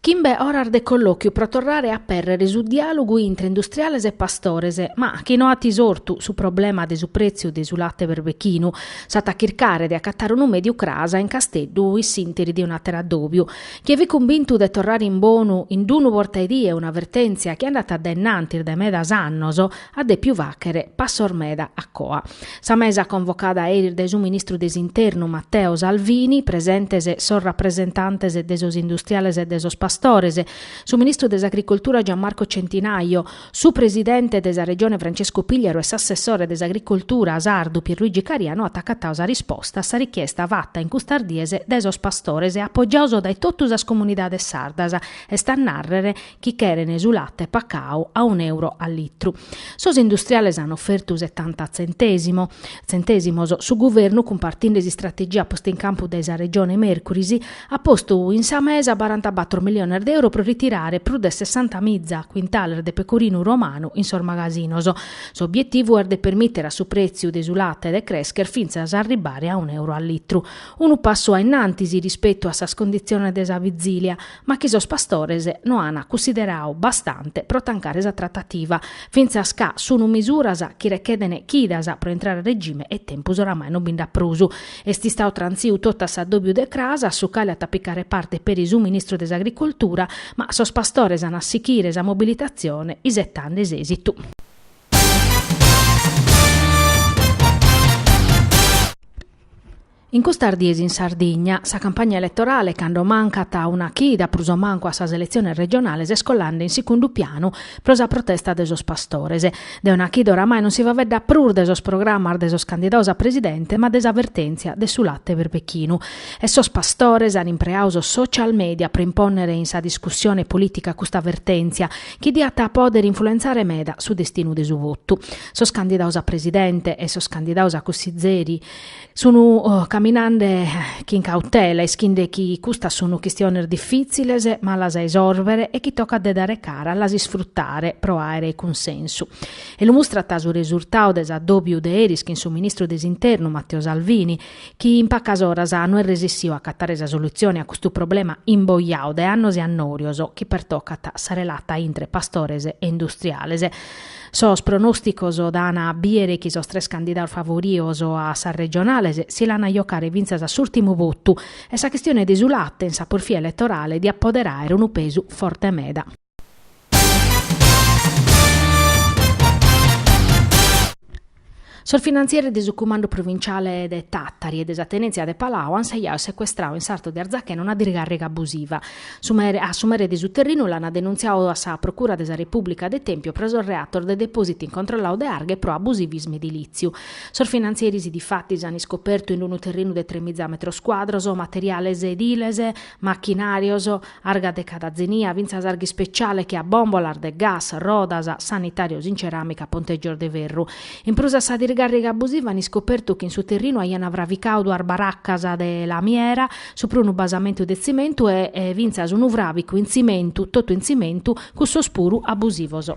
Chimbe oras de collòchiu pro torrare a pèrrere su diàlogu intre industriales e pastores, ma chi no at isortu su problema de su prètziu de su late berbechinu. S'at a chircare de acatare unu mèdiu cras in Casteddu in s'ìnteri de un'àteru addòbiu. Chie fit cumbintu de torrare in bonu in d'unu bortaedie una vertèntzia chi andat dae in antis dae medas annos, at dèpiu fàghere passos meda a coa. Sa mesa convocada eris dae su ministru de s'Internu Matteo Salvini, presentes sos rapresentantes de sos industriales e de sos pastores, su ministru de s'Agricoltura Gianmarco Centinaio, su presidente de sa Regione Francescu Pigliaru e s'assessore de s'Agricoltura sardu Pierluigi Caria no at acatadu sa risposta a sa richiesta fata in custas dies dae sos pastores e apogiados dae totu sas comunidades sardas, est a nàrrere, chi cheren su latte pacau a un euro a litru. Sos industriales an ofertu setanta tzentèsimos, su guvernu cumpartinde s'istrategia posta in campu dae sa Regione mèrcuris at postu in sa mesa barantabatro miliones de euro pro ritirare prus de sessantamìza cuintales de pecorinu romanu in sos magasinos. S'obietivu est de permìtere a su prètziu de su latte de crèscher fintzas a arribare a un euro a litru, unu passu a innantis rispetu a sas conditziones de sa bizìlia, ma chi sos pastores no an cussideradu bastante pro tancare sa tratativa, fintzas ca sun misuras chi recheden chidas pro intrare a regime e tempus oramai no bi nd'at prus. Est istadu trantziu totu a s'adòbiu de cras, a su cale at a picare parte peri su ministru de s'Agricoltura, ma sos pastores an a sichire sa mobilitatzione isetende s'èsitu. In custas dies in Sardigna, sa campagna eletorale, cando mancat una chida prus o mancu a sas eletziones regionales, est colande in secundu pianu pro sa protesta de sos pastores. De una chida oramai non si faeddat prus de sos programmas de sos candidados a presidente ma de sa vertèntzia de su late berbechinu. E sos pastores an impreadu sos social media pro impònnere in sa discussione polìtica custa vertèntzia chi diat a pòdere influentzare meda su destinu de su votu. Sos candidados a presidente e sos candidados a cussizeri, sunu caminande chin cautela, ischinde chi custas sunu chistiones difìtziles, malas a isòrbere e chi tocat de dare cara a las isfrutare pro àere cunsensu. E lu mustrat su resurtadu de s'addòbiu de eris chin su ministru de s'Internu Matteo Salvini, chi in pacas oras no est resissiu a acatare sa solutzione a custu problema imboiadu de annos e annòrios chi pertocat sa relata intre pastores e industriales. Sos pronòsticos dan a bìdere chi sos tres candidados favoridos a sas regionales si l'an a jocare fintzas a s'ùrtimu votu e sa chistione de su late in sa porfia eletorale diat pòdere àere unu pesu forte meda. Sos finantzieris de su Cumandu Provinciale de Tàtari e de sa Tenèntzia de Palau ant sejadu e secuestradu in sartu de Arzachena una dirgàrriga abusiva. Su a su mere de su terrinu l'ant denuntziadu a sa Procura de sa Repùblica de Tèmpiu pro sos reatos de depòsitu incontrolladu de arga e pro abusivismu edilìtziu. Sos finantzieris difatis ant iscopertu in unu terrinu de tremiza metros cuadros materiales ediles, machinàrios, Arga de cada zenia, fintzas arga ispeciale che a bòmbolas de gas, rodas, sanitàrios in ceràmica, pontègios de ferru. In prus a sa dirgàrriga abusiva an iscopertu chi in su terrinu aiant fraficadu duas baracas de lamiera, supra unu basamentu de tzimentu e fintzas unu fràficu in tzimentu, totu in tzimentu, cussos puru abusivos.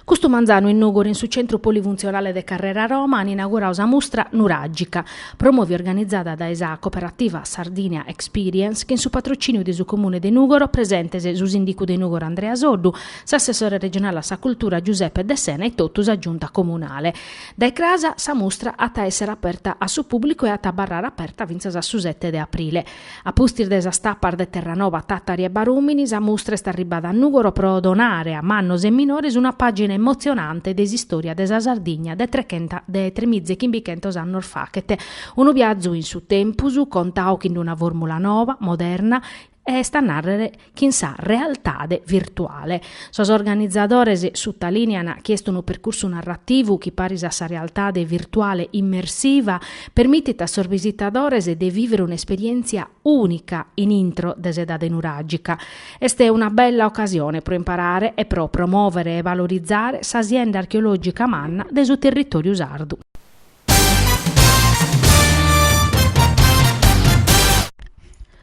Custu manzanu in Nùgoro in su Centru Polifuntzionale de Carrera Roma an inaugurau sa mustra Nuràgica, promòvia e organizada dae sa Cooperativa Sardinia Experience chin su patrocìniu de su Comune de Nùgoro, presentes su Sìndicu de Nùgoro Andrea Soddu, s'Assessore Regionale a sa Cultura Giuseppe Dessena e totu sa Giunta Comunale. Dae cras sa mustra at a èssere aperta a su pùblicu e at a abarrare aperta fintzas a su sete de aprile. A pustis de sas tapas de Terranova, Tàtari e Barùmini, sa mustra est arribada a Nùgoro pro donare a mannos e minores una pàgina emotzionante de s'istòria de sa Sardigna de tre de tremiza e chimbichentos annos faghet. Unu biazu in su tempus, contadu chin una fòrmula nova, moderna, est a nàrrere, chin sa realtade virtuale. Sos organizadores sutalìnean chi est unu percursu narrativu chi paris a sa realtade virtuale immersiva permitit a sos visitadores de vìvere un'esperièntzia ùnica in intro de s'edade nuràgica. Est una bella ocasione pro imparare e pro promòvere e valorizare sa sienda archeològica manna de su territòriu sardu.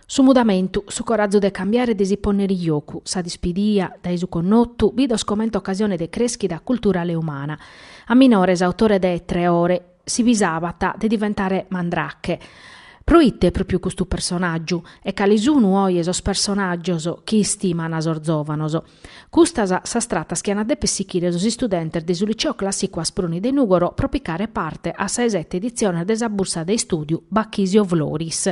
Su mudamentu, su corazu de cambiare e de si ponnere in jocu, sa dispidia, dae su connotu, bidos comente ocasione de creschida culturale e umana. A minore s'autore de Tre ore, si pisabat de diventare Mandrake. Pro ite pròpiu custu personàgiu? E cale sunu oje sos personàgios chi istiman sos zòvanos? Custas sas tratas chi ant a dèpere sichire sos istudentes de su Liceo Clàssicu Asproni de Nùgoro pro picare parte a sa 'e sete editzione de sa bursa de istùdiu Bachisio Floris,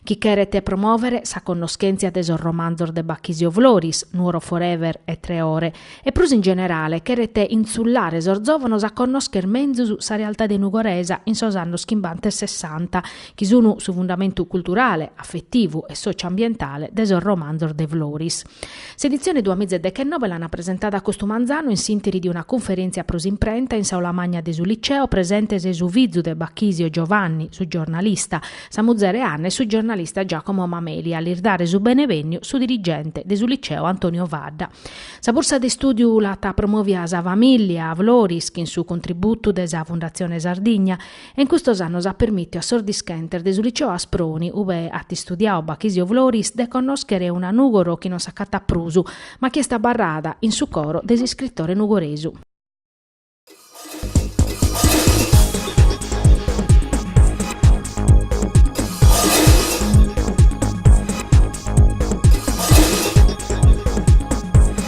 chi cheret promòvere sa connoschèntzia de sos romanzos de Bachisio Floris, Nuoro Forever e Tre Ore, e prus in generale cheret intzullare sos zòvanos a connòschere menzus sa realtade nugoresa in sos annos chimbanta e sessanta, chi sun su fundamentu culturale, afetivu e sòcio-ambientale de sos romanzos de Floris. S'editzione duamìa e dechenove l'ana presentada custu manzanu in s'intiri de una cunferèntzia pro s'imprenta in s'aula magna de su Liceo presentes su fizu de Bachisio Giovanni, su giornalista, sa muzere Anna e su giornalista Giacomo Mameli a lis dare su benevènniu su dirigente de su Liceo Antonio Fadda. Sa bursa de istùdiu l'at promòvia sa famìllia Floris chin su contributu de sa Fundatzione Sardigna e in custos annos at permìtiu a sos dischentes de su Liceo Asproni, ue at istudiau Bachisio Floris, de connòschere una Nùgoro chi non s'acatat prus, ma chi est abarrada in su coro de s'iscritore nugoresu.